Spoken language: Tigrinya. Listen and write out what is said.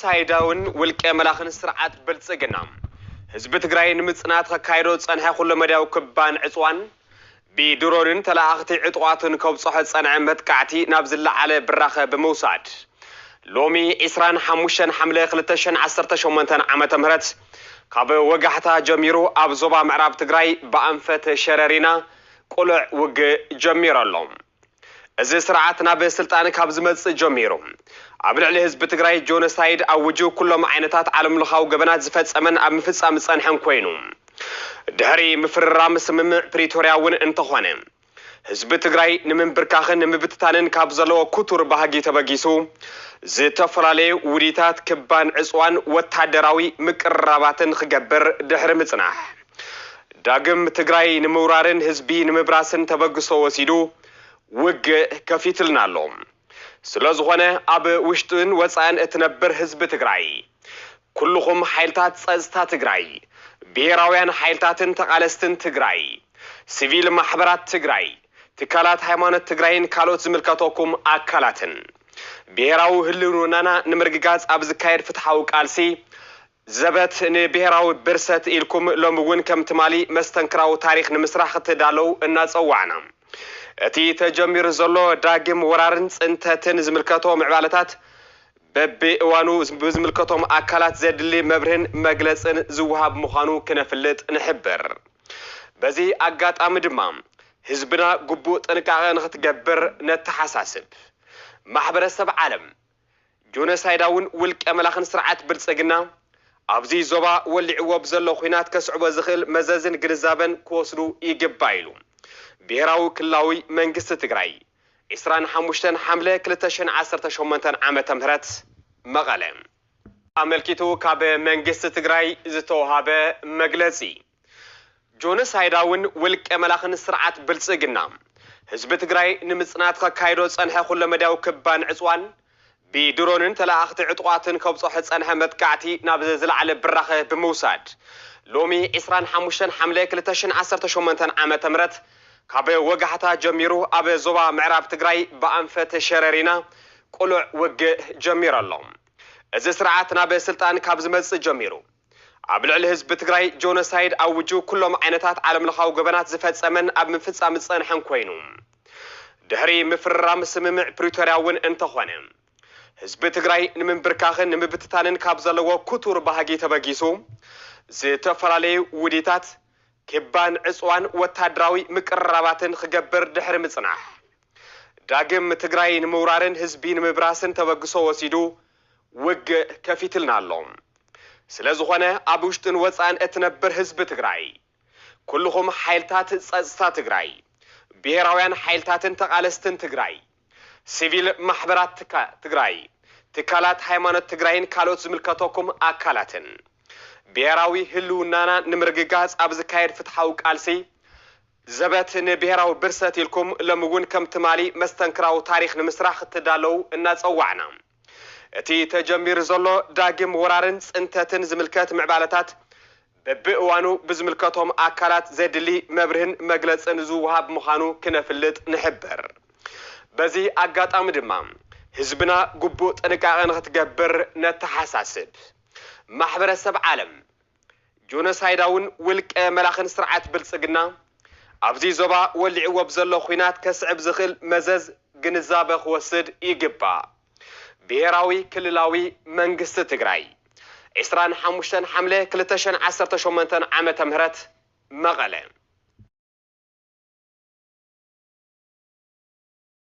ጆኖሳይዳዊን ውልቀ መላኺን ስርዓት ብልፅግና ህዝቢ ትግራይ ንምፅናት ከካይዶ ዝፀንሐ ኩለ መዳያዊ ክባን ዕፅዋን ብድሮንን ተለኣኣኽቲ ዕጡቓትን ከብፀሖ ዝፀንዐ መጥቃዕቲ ናብ ዝለዓለ ብራኸ ብምውሳድ ሎሚ ዕስራን ሓሙሽተን ሓምለ ክልተ ሽሕን ዓሰርተ ሸሞንተን ዓመተ ምህረት ካብ ወጋሕታ ጀሚሩ ኣብ ዞባ ምዕራብ ትግራይ ብኣንፈት ሸረሪና ቁልዕ ውግእ ጀሚሩ ኣሎ። እዚ ስርዓት ናብ ስልጣን ካብ ዝመፅእ ጀሚሩ ኣብ ልዕሊ ህዝቢ ትግራይ ጆኖሳይድ ኣውጁ ኩሎም ዓይነታት ዓለምለኻዊ ገበናት ዝፈፀመን ኣብ ምፍፃም ዝፀንሐን ኮይኑ ድሕሪ ምፍርራም ስምምዕ ፕሪቶርያ እውን እንተኾነ ህዝቢ ትግራይ ንምንብርካኽን ንምብትታንን ካብ ዘለዎ ኩቱር ባህጊ ተበጊሱ ዝተፈላለዩ ውዲታት ክባን ዕፅዋን ወታደራዊ ምቅርራባትን ክገብር ድሕሪ ምፅናሕ ዳግም ትግራይ ንምውራርን ህዝቢ ንምብራስን ተበግሶ ወሲዱ ውግእ ከፊትልና ኣሎ። ስለ ዝኾነ ኣብ ውሽጥን ወፃእን እትነብር ህዝቢ ትግራይ፣ ኩሉኹም ሓይልታት ፀፅታ ትግራይ፣ ብሄራውያን ሓይልታትን ተቓለስትን ትግራይ፣ ስቪል ማሕበራት ትግራይ፣ ትካላት ሃይማኖት ትግራይን ካልኦት ዝምልከተኩም ኣካላትን ብሄራዊ ህልውናና ንምርግጋፅ ኣብ ዝካየድ ፍትሓዊ ቃልሲ ዘበት ንብሄራዊ ብርሰት ኢልኩም ሎሚ እውን ከም ትማሊ መስተንክራዊ ታሪኽ ንምስራሕ ክትዳለዉ እናፀዋዕና እቲ ተጀሚሩ ዘሎ ዳግም ወራርን ፅንተትን ዝምልከቶ ምዕባለታት በቢእዋኑ ብዝምልከቶም ኣካላት ዘድሊ መብርህን መግለፅን ዝወሃብ ምዃኑ ክነፍልጥ ንሕብር። በዚ ኣጋጣሚ ድማ ህዝብና ግቡእ ጥንቃቐ ንክትገብር ነተሓሳስብ። ማሕበረሰብ ዓለም ጆኖሳይዳውን ውልቀ መላኽን ስርዓት ብልፅግና ኣብዚ ዞባ ወሊዕዎ ብዘሎ ኹናት ከስዕቦ ዝኽእል መዘዝን ግንዛበን ክወስዱ ይግባእ ኢሉ ብሄራዊ ክልላዊ መንግስቲ ትግራይ ዕስራን ሓሙሽተን ሓምለ ክልተ ሽሕን ዓሰርተ ሸሞንተን ዓመተ ምህረት መቐለ ኣመልኪቱ ካብ መንግስቲ ትግራይ ዝተውሃበ መግለፂ። ጆኖሳይዳዊን ውልቀ መላኽን ስርዓት ብልፅግና ህዝቢ ትግራይ ንምፅናት ኸካይዶ ዝፀንሐ ኩለመዳያዊ ክባን ዕፅዋን ብድሮንን ተለኣኣኽቲ ዕጡቓትን ከብፀሖ ዝፀንሐ መጥቃዕቲ ናብ ዝለዓለ ብራኸ ብምውሳድ ሎሚ ዕስራን ሓሙሽተን ሓምለ ክልተ ሽሕን ዓሰርተ ሸሞንተን ዓመተ ምህረት ካብ ወጋሕታ ጀሚሩ ኣብ ዞባ ምዕራብ ትግራይ ብኣንፈት ሸረሪና ቅሉዕ ውግእ ጀሚሩ ኣሎ። እዚ ስርዓት ናብ ስልጣን ካብ ዝመፅእ ጀሚሩ፣ ኣብ ልዕሊ ህዝቢ ትግራይ ጆኖሳይድ ኣውጁ ኩሎም ዓይነታት ዓለምለኻዊ ገበናት ዝፈፀመን ኣብ ምፍፃም ዝፀንሐን ኮይኑ ድሕሪ ምፍርራም ስምምዕ ፕሪቶርያ እውን እንተኾነ ህዝቢ ትግራይ ንምንብርካኽን ንምብትታንን ካብ ዘለዎ ክቱር ባህጊ ተበጊሱ ዝተፈላለዩ ውዲታት ክባን ዕፅዋን ወታደራዊ ምቅርራባትን ኽገብር ድሕሪ ምፅናሕ ዳግም ትግራይ ንምውራርን ህዝቢ ንምብራስን ተበግሶ ወሲዱ ውግእ ከፊትልና ኣሎ። ስለዝኾነ ኣብ ውሽጥን ወፃእን እትነብር ህዝቢ ትግራይ፣ ኩልኹም ሓይልታት ፀፅታ ትግራይ፣ ብሄራውያን ሓይልታትን ተቓለስትን ትግራይ፣ ሲቪል ማሕበራት ትግራይ፣ ትካላት ሃይማኖት ትግራይን ካልኦት ዝምልከተኩም ኣካላትን ብሄራዊ ህልውናና ንምርግጋፅ ኣብ ዝካየድ ፍትሓዊ ቃልሲ ዘበት ንብሄራዊ ብርሰት ኢልኩም ሎሚ እውን ከም ትማሊ መስተንክራዊ ታሪኽ ንምስራሕ ክትዳለዉ እናጸዋዕና፣ እቲ ተጀሚሩ ዘሎ ዳግም ወራርን ጽንተትን ዝምልከት ምዕባለታት በብእዋኑ ብዝምልከቶም ኣካላት ዘድሊ መብርህን መግለጽን ዝወሃብ ምዃኑ ክነፍልጥ ንሕብር። በዚ ኣጋጣሚ ድማ ህዝብና ግቡእ ጥንቃቐ ንክትገብር ነተሓሳስብ። ማሕበረሰብ ዓለም ጆኖሳይዳውን ውልቀ መላኽን ስርዓት ብልፅግና ኣብዚ ዞባ ወሊዕዎ ብዘሎ ኹናት ከስዕብ ዝኽእል መዘዝ ግንዛበ ክወስድ ይግባእ ብሄራዊ ክልላዊ መንግስቲ ትግራይ ዕስራን ሓሙሽተን ሓምለ ክልተ ሸን ዓሰርተ ሸሞንተ ዓመተ ምህረት መቐለ።